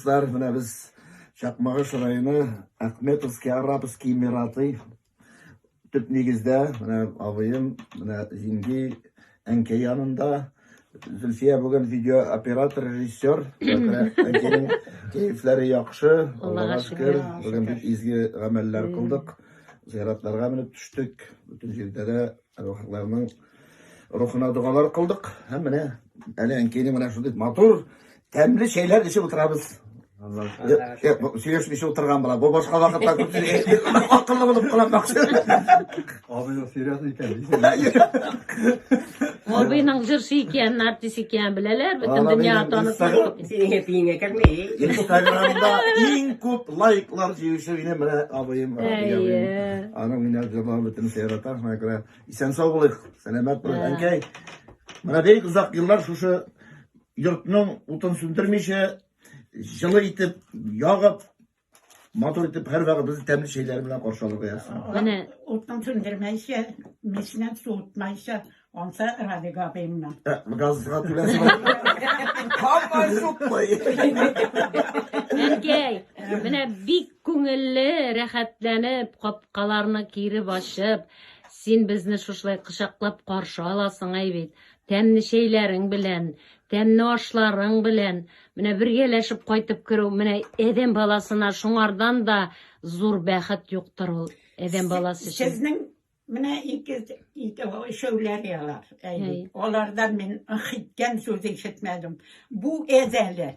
Дуслар, менә без Чакмагыш районы Ахметовский Арабский Мираты төп нигездә менә абыем, менә җиңги, әнкәй янында. Зөлфия бүген видеооператор, режиссер. Әнкәйнең кәефләре яхшы, Аллага шөкер. Бүген бик изге гамәлләр кылдык. Зыяратларга менеп төштек. Бөтен җирдә дә Рухларның рухына догалар кылдык. Һәм менә әле әнкәйне менә шундый матур, тәмле чәйләр эчеп утырабыз. Сөйләшмичә утырган була. Бу башка вакытта күп акыллы булып кыланмакчы. Абыйның серьез икән. Абыйның җырчы икәнен, артист икәнен беләләр, бөтен дөнья танып. Синең әтиеңә кермей. Инстаграмда иң күп лайклар җыючы минем менә абыем. Әйе. Аны мине җырлап бөтен сәйрата. Менә күрә. Исән сау булыйк. Сәламәт булыйк. Әнкәй. Менә бик озак еллар шушы йортның утын сүндермичә, җылы итеп, ягып, Матур итеп һәр вагыбызны тәмле чәйләр белән каршы алырга язсын. Менә утын сүндермәйчә, мичнән суытмайча, анса Радик абыйымнан. Ә, Газга түләсен. Һаман шук кой. Әнкәй, менә бик күңелле, рәхәтләнеп, капкаларны киреп ачып, син безне шушылай кочаклап каршы аласың әй бит. Тәмле чәйләрең белән, Тәмне ашларың белән, менә бергәләшеп кайтып керү, менә әдәм баласына шуңардан да зур бәхет юктыр ул әдәм баласы өчен. Сезнең менә ике ике өчәүләр ялар. Алардан мин хиткән сүз ишетмәдем. Бу әзәле.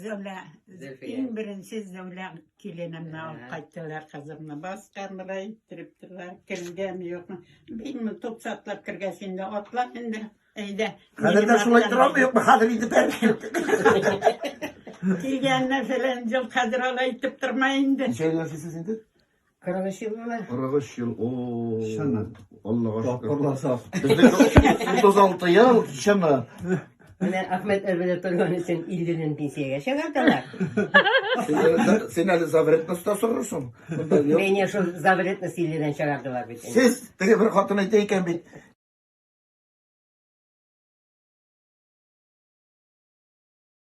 Зәүлә, Зөлфия. иң беренче Зәүлә киленемне Ә. алып кайттылар кызымны. Баска мырай иттереп торалар, кергән юкмы. Бикме туп сатлап кергәч инде атла инде. Әйдә. Хәзер дә шулай торамы юкмы? Хәзер инде бәркем. Килгәнне фәлән ел хәзер алай итеп торма инде. Ничә ел яшисез инде? 43 ел була. 43 ел. О. Чыннан. Аллага шөкер. Тапкырлар сак. Безнеке 36 ел, чыннан. Менә Ахмед Әлбәдә торган өчен 50-дән пенсиягә чыгардылар. Син әле- Син әле завретностьта сорырсың. Монда юк. Менә шул завретны 50-дән чыгардылар бит. инде. Сез теге бер хатын әйтә икән бит.